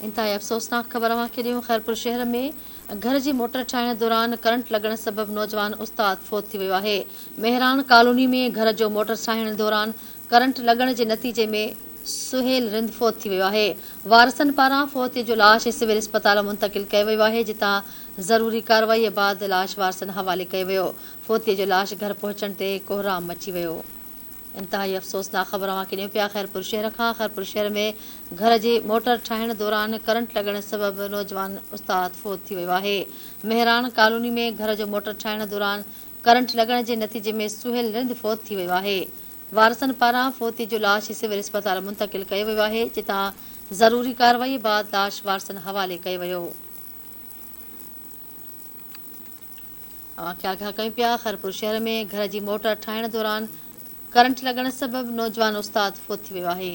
انتهائي افسوسناڪ خبر اوهان کي ڏيون خيرپور شهر ۾ گهر جي موٽر ٺاهڻ دوران ڪرنٽ لڳڻ سبب نوجوان استاد فوت ٿي ويو آهي. مهراڻ ڪالوني ۾ گهر جو موٽر ٺاهڻ دوران ڪرنٽ لڳڻ جي نتيجي ۾ سهيل رند فوت ٿي ويو آهي. وارثن پاران فوتي جو لاش سول اسپتال منتقل ڪيو ويو آهي جتان ضروري ڪارروائي بعد لاش وارثن حوالي ڪيو ويو. فوتي جو لاش گهر پهچڻ تي ڪوهرام مچي ويو. انتهائي افسوسناڪ خبر اوهان کي ڏيون پيا خيرپور شهر کان، خيرپور شهر ۾ گهر جي موٽر ٺاهڻ دوران ڪرنٽ لڳڻ سبب نوجوان استاد فوت ٿي ويو آهي، مهراڻ ڪالوني ۾ گهر جو موٽر ٺاهڻ دوران ڪرنٽ لڳڻ جي نتيجي ۾ سهيل رند فوت ٿي ويو آهي، وارثن پاران فوتي جو لاش سول اسپتال منتقل ڪيو ويو آهي، جتان ضروري ڪارروائي بعد لاش وارثن حوالي ڪيو ويو. اوهان کي آگاهه ڪيون پيا خيرپور شهر ۾ گهر جي موٽر ٺاهڻ دوران ڪرنٽ لڳڻ سبب نوجوان استاد فوت ٿي ويو آهي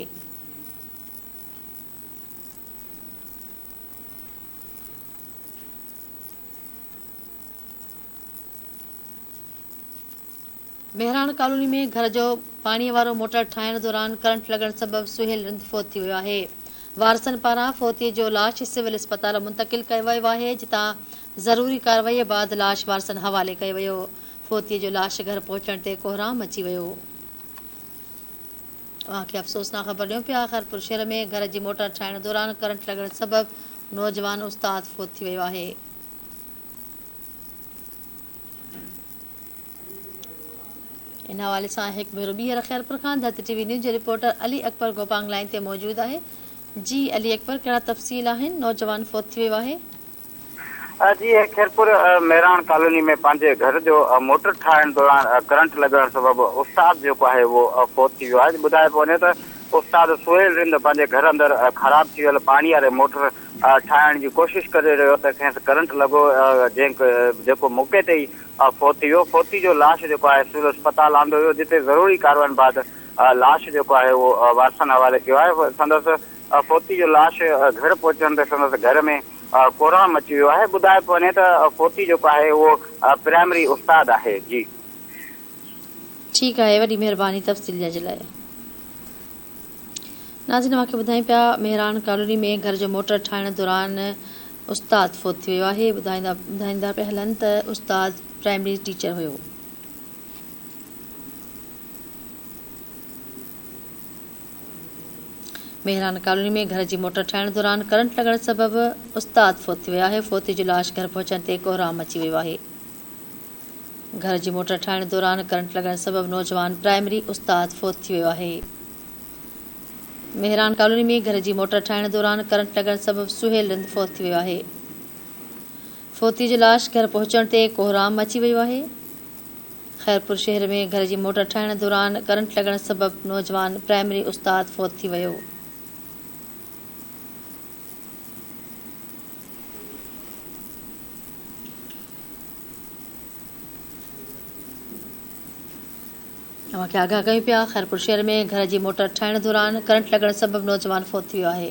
مهراڻ ڪالوني ۾ گهر جو پاڻي وارو موٽر ٺاهڻ دوران ڪرنٽ لڳڻ سبب سهيل رند فوت ٿي ويو آهي وارثن پاران فوتي جو لاش سول اسپتال منتقل ڪيو ويو آهي جتان ضروري ڪارروائي بعد لاش وارثن حوالي ڪيو ويو فوتي جو لاش گهر پهچڻ تي ڪوهرام مچي ويو اوهان کي افسوسناڪ خبر ڏيون پيا خيرپور شهر ۾ گهر جي موٽر ٺاهڻ دوران ڪرنٽ لڳڻ سبب نوجوان استاد فوت ٿي ويو آهي ان حوالي سان هڪ ڀيرو ٻيهر خيرپور کان د ٽي وي نيوز جو رپورٽر علي اڪبر گوپانگ لائين تي موجود آهي جي علي اڪبر ڪهڙا تفصيل آهن نوجوان فوت ٿي ويو آهي. جي خيرپور ميراڻ ڪالوني ۾ پنهنجي گهر جو موٽر ٺاهڻ دوران ڪرنٽ لڳڻ سبب استاد جيڪو آهي اهو فوت ٿي ويو آهي ٻڌايو پيو وڃي ته استاد سهيل رند پنهنجي گهر اندر خراب ٿي ويل پاڻي واري موٽر ٺاهڻ جي ڪوشش ڪري رهيو ته کيس ڪرنٽ لڳو جنهن جيڪو موقعي تي ئي فوت ٿي ويو فوتي جو لاش جيڪو آهي سول اسپتال آندو ويو جتي ضروري ڪارواين بعد لاش جيڪو آهي اهو وارثن حوالي ڪيو آهي سندس فوتي جو لاش گهر پهچڻ تي سندس گهر ۾ ڪورهڻ مچي ويو آهي ٻڌايو پيو وڃي ته فوتي جيڪو آهي اهو پرائمري استاد آهي جي ٺيڪ آهي وڏي مهرباني تفصيل ڏيڻ جي لاء. ناظرين اوهان کي ٻڌائين پيا مهراڻ ڪالوني ۾ گهر جو موٽر ٺاهڻ دوران استاد فوت ٿي ويو آهي ٻڌائيندا ٻڌائيندا پيا هلن ته استاد پرائمري ٽيچر هيو مهراڻ ڪالوني ۾ گهر جي موٽر ٺاهڻ دوران ڪرنٽ لڳڻ سبب استاد فوت ٿي ويو آهي فوتي جو لاش گهر پهچڻ تي ڪوهرام مچي ويو آهي گهر جي موٽر ٺاهڻ دوران ڪرنٽ لڳڻ سبب نوجوان پرائمري استاد فوت ٿي ويو آهي. مهراڻ ڪالوني ۾ گهر جي موٽر ٺاهڻ دوران ڪرنٽ لڳڻ سبب سهيل رند فوت ٿي ويو آهي. فوتي جو لاش گهر پهچڻ تي ڪوهرام مچي ويو آهي. خيرپور شهر ۾ گهر جي موٽر ٺاهڻ دوران ڪرنٽ لڳڻ سبب نوجوان پرائمري استاد فوت ٿي ويو. اوهان کي آگاهه ڪيون پيا، خيرپور شهر ۾ گهر جي موٽر ٺاهڻ دوران ڪرنٽ لڳڻ سبب نوجوان فوت ٿي ويو آهي.